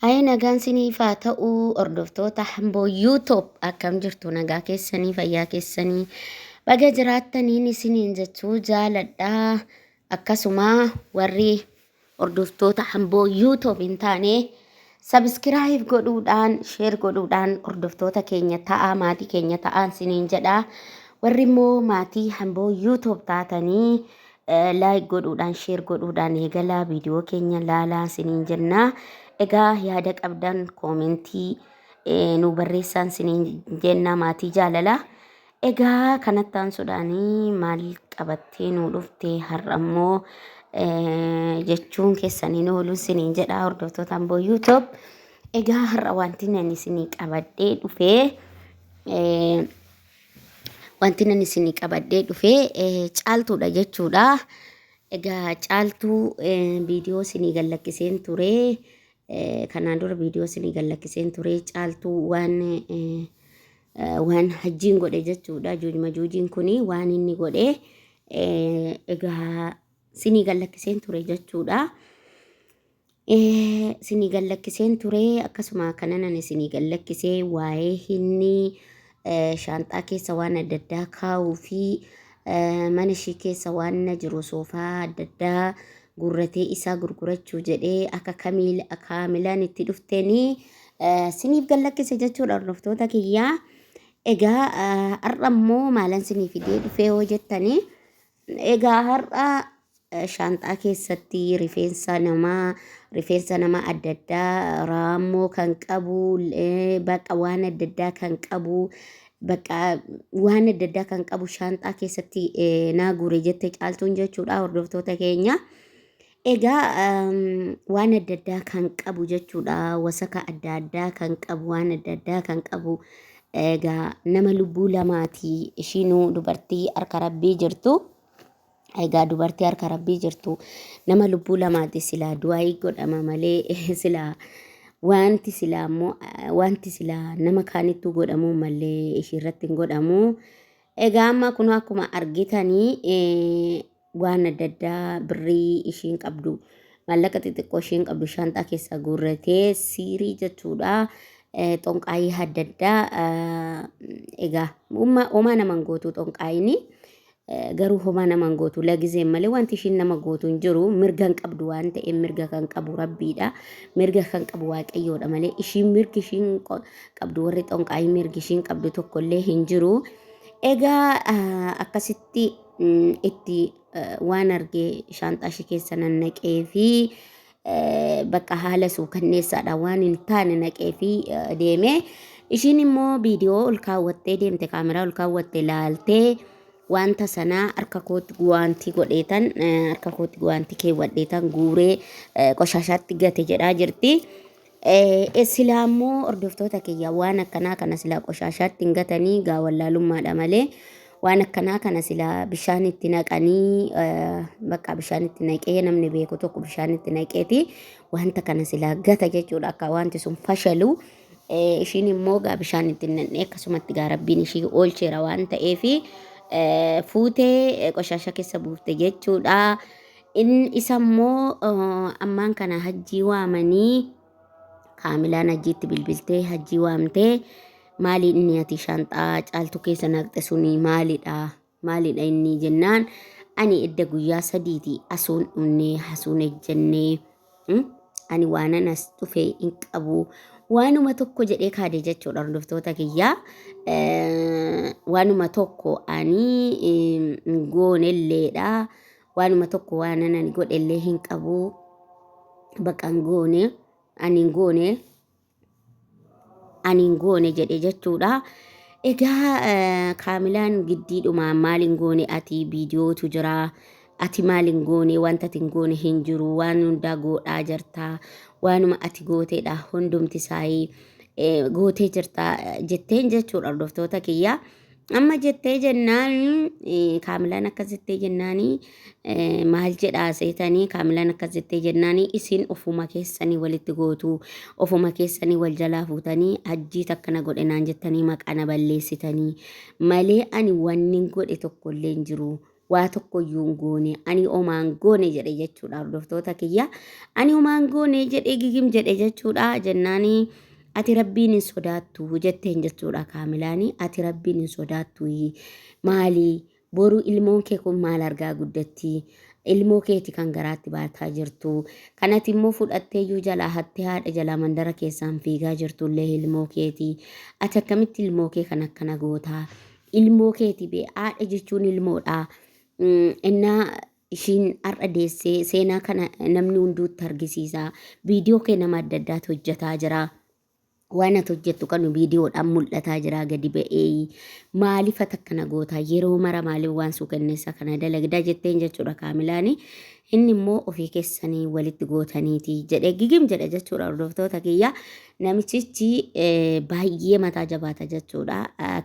Ayee nagaan siniif haa ta'u hordoftoota hamboo YouTube akkam jirtu nagaa keessanii fayyaa keessanii baga jiraattaniin isiniin jechuu jaaladha akkasuma warri hordoftoota hamboo YouTube hin taane sabiskiraayib godhuudhaan sheer godhuudhaan hordoftoota keenya ta'aa maatii keenya ta'aan isiniin jedha warri immoo maatii hamboo YouTube taatanii laayik godhuudhaan sheer godhuudhaan eegalaa viidiyoo keenya laalaa isiniin jenna. Egaa yaada qabdan koomentii nu barreessaan isiniin jenna maatii jaalala. Egaa kanatti aansuudhaan maal qabattee nu dhufte har'a immoo jechuun keessaniin ooluu isiniin jedha hordoftoota Amboo YouTube. Egaa har'a wanti ani isinii qabadhee dhufee Wanti nan isinii qabadhee dhufe caaltuudha jechuudha. Egaa caaltuu viidiyoo isinii gallakkiseen ture. Kanaan dura viidiyoo isinii gallakkiseen ture. Caaltuu waan waan hajjiin godhe jechuudha. Juujma juujiin kuni waan inni godhe egaa isinii gallakkiseen ture jechuudha. Isinii gallakkiseen ture akkasuma kananan isinii gallakkisee waa'ee hinni shaanxaa keessa waan adda addaa kaa'uu fi mana ishii keessa waan na jiru soofaa adda addaa gurratee isaa gurgurachuu jedhee akka kamiil kaamilaan itti dhufteenii siniif gallakkise jechuudha hordoftoota kiyyaa. Egaa har'a immoo maalan sinii fidee dhufee yoo jettanii Egaa har'a shaanxaa keessatti rifeensa namaa rifeensa nama adda addaa raammoo kan qabu bakka waan adda addaa kan qabu bakka waan adda addaa kan qabu shaanxaa keessatti naa guure jette caaltuun jechuudha hordoftoota keenya. Egaa waan adda addaa kan qabu jechuudha. Wasaka adda addaa kan qabu, waan adda addaa kan qabu. Egaa nama lubbuu lamaati ishiinuu dubartii harka rabbii jirtu. Egaa dubartii harka rabbii jirtu nama lubbuu lamaati silaa du'aayii godhama malee silaa wanti silaa immoo wanti silaa nama kaanittuu godhamuu malee ishiirratti hin godhamuu. Egaa amma kun akkuma argitanii waan adda addaa birrii ishiin qabdu maallaqa xixiqqoo ishiin qabdu shaanxaa keessaa guurratee siirii jechuudha eh, xonqaayii adda addaa eh, egaa umma- homaa naman gootu xonqaayini eh, garuu homaa naman gootu lagizeen malee wanti ishiin nama gootu hin jiru mirga hin qabdu waan ta'eef mirga kan qabu rabbiidha mirga kan qabu waaqayyoodha malee ishiin mirgi ishiin qo- qabdu warri xonqaayii mirgi ishiin qabdu tokkollee hin jiru egaa ah, akkasitti itti waan argee shaanxaa ishee keessa nannaqee fi bakka haala suukanneessaadha waan hin taane naqee fi deemee ishiin immoo viidiyoo ol kaawwattee deemte kaameraa ol kaawwatte laaltee wanta sanaa harka kootti guwaantii godheetan harka kootti guwaantii keewwadheetan guuree qoshaashaatti gate jedhaa jirti. Eh, silaa immoo hordoftoota kiyya waan akkanaa kana silaa qoshaashaatti hin gatanii gaa wallaalummaadha malee waan akkanaa kana silaa bishaan itti naqanii eh, bakka bishaan itti naqee namni beeku tokko bishaan itti naqeeti wanta kana silaa gata jechuudha akka wanti sun fashalu eh, ishiin immoo gaa bishaan itti hin naqne akkasumatti gaa rabbiin ishii oolcheera waan ta'eefi eh, fuutee eh, qoshaasha keessa buufte jechuudha. In isa immoo ammaan kana hajjii waamanii kaamilaan hajjiitti bilbiltee hajjii waamtee maali inni ati shaanxaa caaltuu keessa naqxe suni maalidha maalidha inni jennaan ani edda guyyaa sadiiti asuun dhunnee hasuun ejjennee ani waanan as dhufe hin qabu waanuma tokko jedhee kaade jechuudha hordoftoota kiyyaa waanuma tokko ani hin goonelleedha waanuma tokko waanan ani godhellee hin qabu baqa hin goone ani hin goone ani hin goone jedhe jechuudha. Egaa eh, kaamilaan giddiidhuma maal hin goone ati viidiyootu jira ati maal hin goone wanta ati hin goone hin jiru waan hundaa goodhaa jirta waanuma ati gooteedha hundumti isaayii eh, gootee jirta eh, jetteen jechuudha hordoftoota kiyyaa. Amma jettee jennaan eh, kaamilaan akkas jettee jennaani eh, maal jedhaa seetanii kaamilaan akkas jettee jennaani isin ofuma keessanii walitti gootu ofuma keessanii wal jalaa fuutanii hajjii takka na godhe naan jettanii maqaa na balleessitanii malee ani wannin godhe tokkollee hin jiru waa tokko iyyuu hin goone ani homaa hin goone jedhe jechuudha hordoftoota kiyya ani homaa hin goone jedhe gigim jedhe jechuudha jennaani ati rabbiin hin sodaattu jetteen jechuudha kaamilaani ati rabbiin hin sodaattu maali boru ilmoon kee kun maal argaa guddatti ilmoo keeti kan garaatti baataa jirtu kanati immoo fudhattee iyyuu jalaa hattee haadha jalaa mandara keessaan fiigaa jirtu illee ilmoo keeti ati akkamitti ilmoo kee kan akkana gootaa ilmoo keeti bee haadha jechuun ilmoodha innaa ishiin har'a deessee seenaa kana namni hunduutti argisiisa viidiyoo kee nama adda addaatu hojjetaa jira waan ati hojjettu kanu viidiyoodhaan mul'ataa jira gadi ba'ee maaliif ati akkana gootaa yeroo mara maaliif waan suu kenneessa kana dalagdaa jetteen jechuudha kaamilaani inni immoo ofii keessanii walitti gootaniiti jedhe gigim jedha jechuudha hordoftoota kiyya Namichichi baay'ee mataa jabaata jechuudha.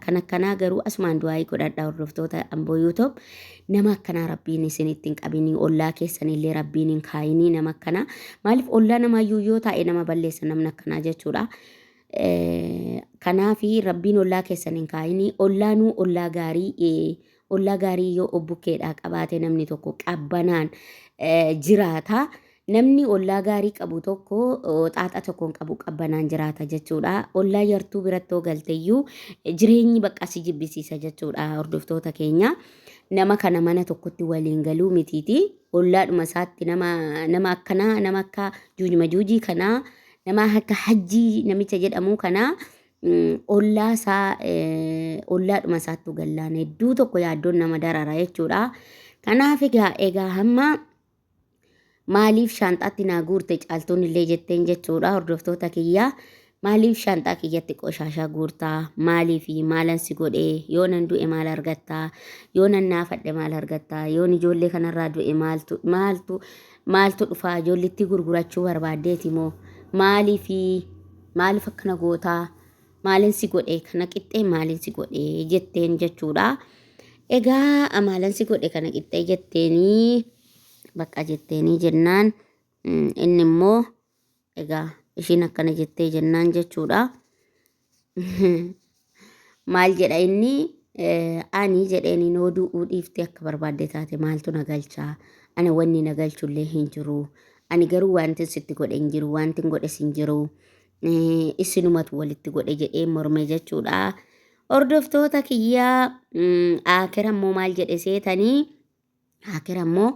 Kan akkanaa garuu asumaan du'aayii godhadha hordoftoota Amboo YouTube. Nama akkanaa rabbiin isin ittiin qabinii ollaa keessan illee rabbiin hin kaayinii nama akkanaa. Maaliif ollaa namaayyuu yoo taa'e nama balleessa namni akkanaa jechuudha. Kanaafi rabbiin ollaa keessan hin kaayinii ollaanuu ollaa gaarii Ollaa gaarii yoo obbukkeedhaa qabaate namni tokko qabbanaan jiraata. Namni ollaa gaarii qabu tokko xaaxa tokkoon qabu qabbanaan jiraata jechuudha. Ollaa yartuu biratti yoo galteyyuu jireenyi bakka si jibbisiisa jechuudha hordoftoota keenya. Nama kana mana tokkotti waliin galuu mitiiti. Ollaadhuma isaatti nama nama akkanaa nama akka juujma juujii kanaa nama akka hajjii namicha jedhamu kanaa ollaa isaa ollaadhuma isaattuu gallaan hedduu tokko yaaddoon nama darara jechuudha. Kanaaf egaa egaa hamma maaliif shaanxaatti naa guurte caaltuun illee jetteen jechuudha hordoftoota kiyyaa. Maaliif shaanxaa kiyyatti qoshaashaa guurtaa? Maaliif maalan si godhe? Yoo nan du'e maal argattaa? Yoo nan naafadhe maal argattaa? Yoon ijoollee kanarraa du'e maaltu maaltu maaltu dhufaa? Ijoollitti gurgurachuu barbaaddeeti moo? Maaliif Maaliif akkana goota? Maalin si godhe? Kana qixxee maalin si godhe? jetteen jechuudha. Egaa maalin si godhe kana qixxee jetteenii bakka jetteenii jennaan mm, inni immoo egaa ishiin akkana jettee jennaan jechuudha. maal jedha inni ani jedheeni noo du'uu dhiiftee akka barbaadde taate maaltu na galchaa ani wanni na galchullee hin jiru ani garuu wanti sitti godhe hin jiru wanti hin godhes hin jiru isinumatu walitti godhe jedhee morme jechuudha hordoftoota kiyyaa akira immoo maal jedhe seetanii Akira immoo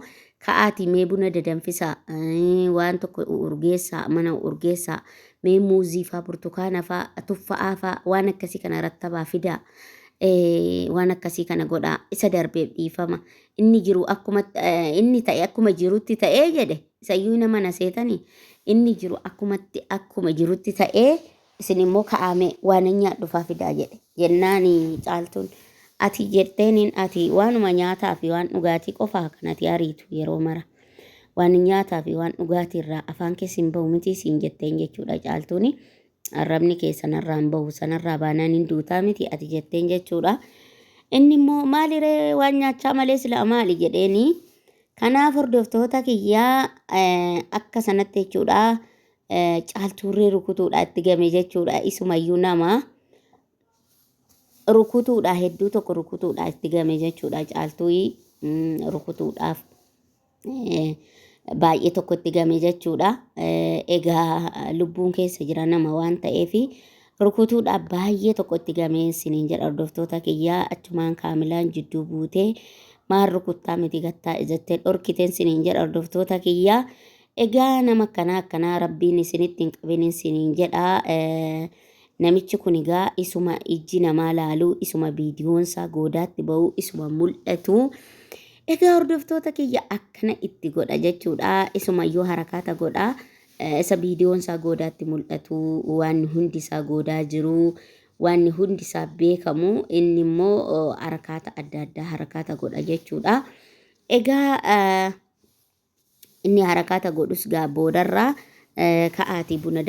ka'aatii mee buna dadanfisaa eh, waan tokko urgeessaa mana urgeessaa mee muuzii faa burtukaana faa tuffa'aa faa waan akkasii kana rattabaa fidaa eh, waan akkasii kana godhaa isa darbeef dhiifama inni jiru akkuma eh, inni ta'e akkuma jirutti ta'ee jedhe isayyuu nama na seetanii inni jiru akkumatti akkuma jirutti ta'ee Isin immoo ka'aa mee waanan nyaadhufaa fidaa jedhe. Jennaani Caaltuun ati jetteeniin ati waanuma nyaataa fi waan dhugaatii qofaa kan ati ariitu yeroo mara. Waan nyaataa fi waan dhugaatii irraa afaan keessa hin bahu mitii siin jetteen jechuudha Caaltuuni. Arrabni kee sanarraa hin bahu sanarraa baanaan hin duutaa miti ati jetteen jechuudha. Inni immoo maali ree waan nyaachaa malee silaa maali jedheeni. Kanaaf hordoftoota kiyyaa akka sanatti jechuudha caaltuurree rukutuudha itti game jechuudha isumayyuu nama rukutuudha hedduu tokko rukutuudha itti game jechuudha caaltuu rukutuudhaaf baay'ee tokko itti game jechuudha egaa lubbuun keessa jira nama waan ta'eef rukutuudhaaf baay'ee tokko itti game siniin jedha hordoftoota kiyyaa achumaan kaamilaan jidduu buutee maal rukuttaa miti gattaa jettee dhorkiteen siniin jedha hordoftoota kiyyaa Egaa nama akkanaa akkanaa rabbiin isinitti hin qabinin siniin jedha. Namichi kun egaa isuma ijji namaa laalu, isuma viidiyoonsaa goodaatti ba'u, isuma mul'atu. Egaa hordoftoota kiyya akkana itti godha jechuudha. Isumayyuu harakaata godha. Isa viidiyoonsaa goodaatti mul'atu, waan hundi isaa goodaa jiru, waan hundi isaa beekamu, inni immoo harakaata adda addaa harakaata godha jechuudha. Egaa Inni harakaata godhus gaa boodarraa ka'aatii buna